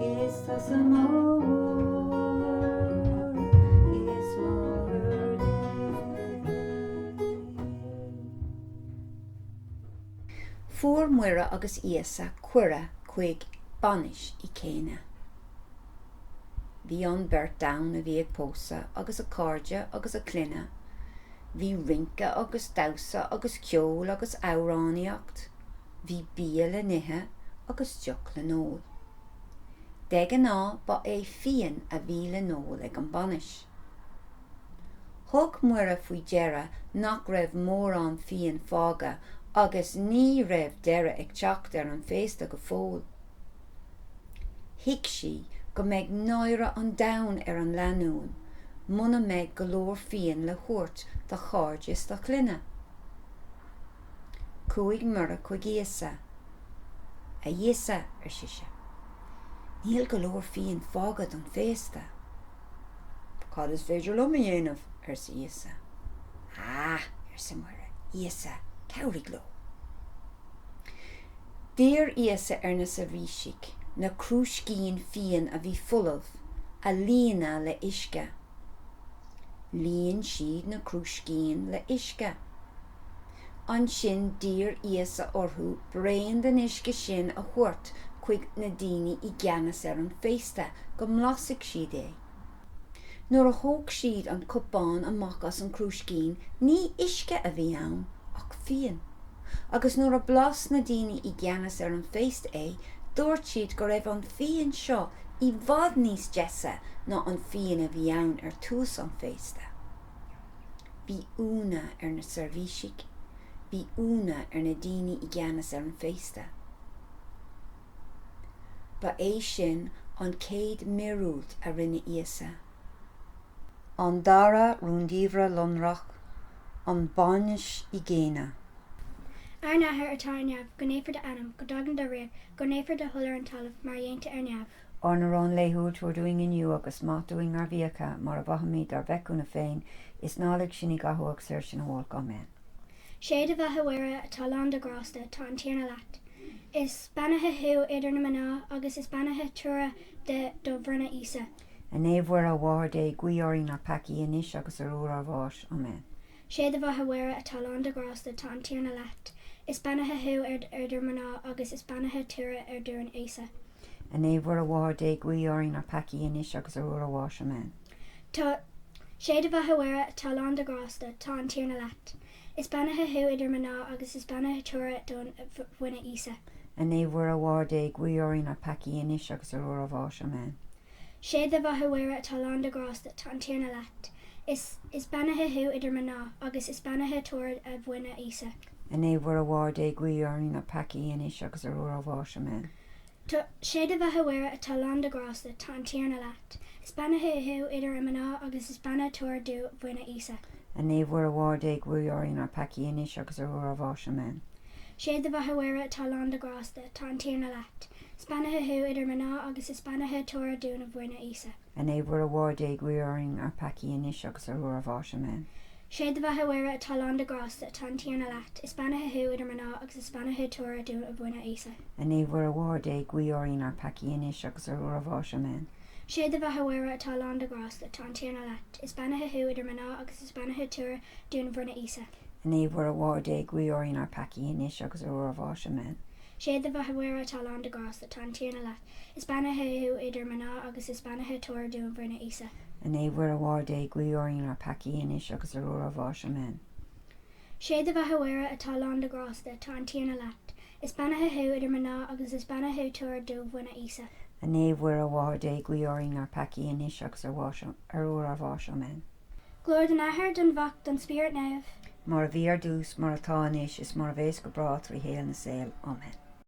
Is tusa mór is mór Dé. Fuair Muire agus Íosa cuireadh chuig bainis i gCána. Bhí an bheirt ann a bhí ag pósadh agus a gcairde agus a gclainne. Bhí rince agus damhsa agus ceol agus amhránaíocht. Bhí bia le n-ithe agus deoch le n-ól. De ghnáth ba é fíon a bhí le n-ól ag an bhainis. Thug Muire faoi deara nach raibh mórán fíon fágtha agus ní raibh deireadh ag teacht ar an bhféasta go fóill. Thuig sí go mbeidh náire an domhain ar an lanúin muna mbeidh go leor fíon le thabhairt dá gcairde is dá gclainne. Chuaigh Muire chuig Íosa. A Íosa, ar sise, níl go leor fíon fágtha don bhféasta. Cad is féidir liom a dhéanamh? arsa Íosa. Ah! arsa Muire, Íosa, cabhraigh leo. D'iarr Íosa ar na seirbhísigh na crúiscíní fíon a bhí folamh a líonadh le huisce. Líon siad na crúiscíní le uisce. Ansin d'iarr Íosa orthu braon den uisce sin a thabhairt chuig na daoine i gceannas ar an féasta go mblasfaidh siad é. Nuair a thóg siad an cupán amach as an crúiscín ní uisce a bhí ann ach fíon. agus nuair a bhlas na daoine i gceannas ar an féasta é, dúirt siad go raibh an fíon seo i bhfad níos deise ná an fíon a bhí ann ar tús an féasta. Bhí ionadh ar na seirbhísigh, bhí ionadh ar na daoine i gceannas ar an féasta. Ba é sin an chéad mhíorúilt a rinne Íosa. An dara rúndiamhra lonrach, an bhainis i gCána. Ár nAthair atá ar neamh, go naofar d'ainm, go dtaga do ríocht, go ndéantar do thoil ar an talamh, mar a dhéantar ar neamh. Ár n-arán laethúil tabhair dúinn inniu, agus maith dúinn ár bhfiacha, mar a mhaithimíd dár bhfeichiúna féin, is ná lig sinn i gcathú ach saor sinn ó olc. Amen. Sé do bheatha a Mhuire, atá lán de ghrásta, tá an Tiarna leat. Is beannaithe thú idir na mná, agus is beannaithe toradh do bhroinne, Íosa. A Naomh Mhuire, a Mháthair Dé, guí orainn na peacaigh, anois agus ar uair ár mbáis. Amen. Sé do bheatha a Mhuire atá lán de ghrásta, tá an Tiarna leat. Is beannaithe thú idir mná, agus is beannaithe toradh do bhroinne, Íosa. A Naomh Mhuire, a Mháthair Dé, guí orainn na peacaigh, anois agus ar uair ár mbáis. Amen. Tá. Sé do bheatha a Mhuire atá lán de ghrásta, tá an Tiarna leat. Is beannaithe thú idir mná agus is beannaithe toradh do bhroinne Íosa. A Naomh Mhuire, a Mháthair Dé, guigh orainn na peacaigh, anois agus ar uair ár bháis. Amen. Sé do bheatha, a Mhuire, atá lán de ghrásta, tá an Tiarna leat. Is beannaithe thú idir mná, agus is beannaithe toradh do bhroinne Íosa. A Naomh Mhuire, a Mháthair Dé, guigh orainn na peacaigh, anois agus ar uair ár bháis. Amen. Sé do bheatha a Mhuire atá lán de ghrásta, tá an Tiarna leat. Is beannaithe thú idir mná agus is beannaithe toradh do bhroinne Íosa. A Naomh Mhuire a Mháthair Dé guigh orainn ár peacaí anois agus ar uair ár bháis. Amen. Sé do bheatha a Mhuire atá lán de ghrásta, tá an Tiarna leat. Is beannaithe thú idir mná agus is beannaithe toradh do bhroinne Íosa. A Naomh Mhuire a Mháthair Dé guigh orainn ár peacaí anois agus ar uair ár bháis. Amen. Sé do bheatha Mhuire atá lán de ghrásta, tá an Tiarna leat. Is beannaithe thú idir mná, agus is beannaithe toradh do bhroinne Íosa. A Naomh Mhuire a Mháthair Dé, guigh orainn ár bpeacaí anois agus ar uair ár bháis. Amen. Sé do bheatha Mhuire atá lán de ghrásta, tá an Tiarna leat. Is beannaithe thú idir mná, agus is beannaithe toradh do bhroinne Íosa. A Naomh Mhuire a Mháthair Dé, guigh orainn ár bpeacaí anois agus ar uair ár bháis. Amen. Sé do bheatha a Mhuire atá lán de ghrásta, tá an Tiarna leat. Is beannaithe thú idir mná agus is beannaithe toradh do bhroinne, Íosa. A Naomh Mhuire a Mháthair Dé, guigh orainn ár bpeacaí, anois agus ar uair ár bháis. Amen. Sé do bheatha a Mhuire, atá lán de ghrásta, tá an Tiarna leat. Is beannaithe thú idir mná agus is beannaithe toradh do bhroinne, Íosa. A Naomh Mhuire a Mháthair Dé, guigh orainn ár bpeacaí, anois agus ar uair ár bháis. Amen. Glóir don Athair, don Mhac, don Spiorad Naomh. Mar a bhí ar dtús, mar atá anois, is mar a bheas go bráth trí shaol na saol. Amen.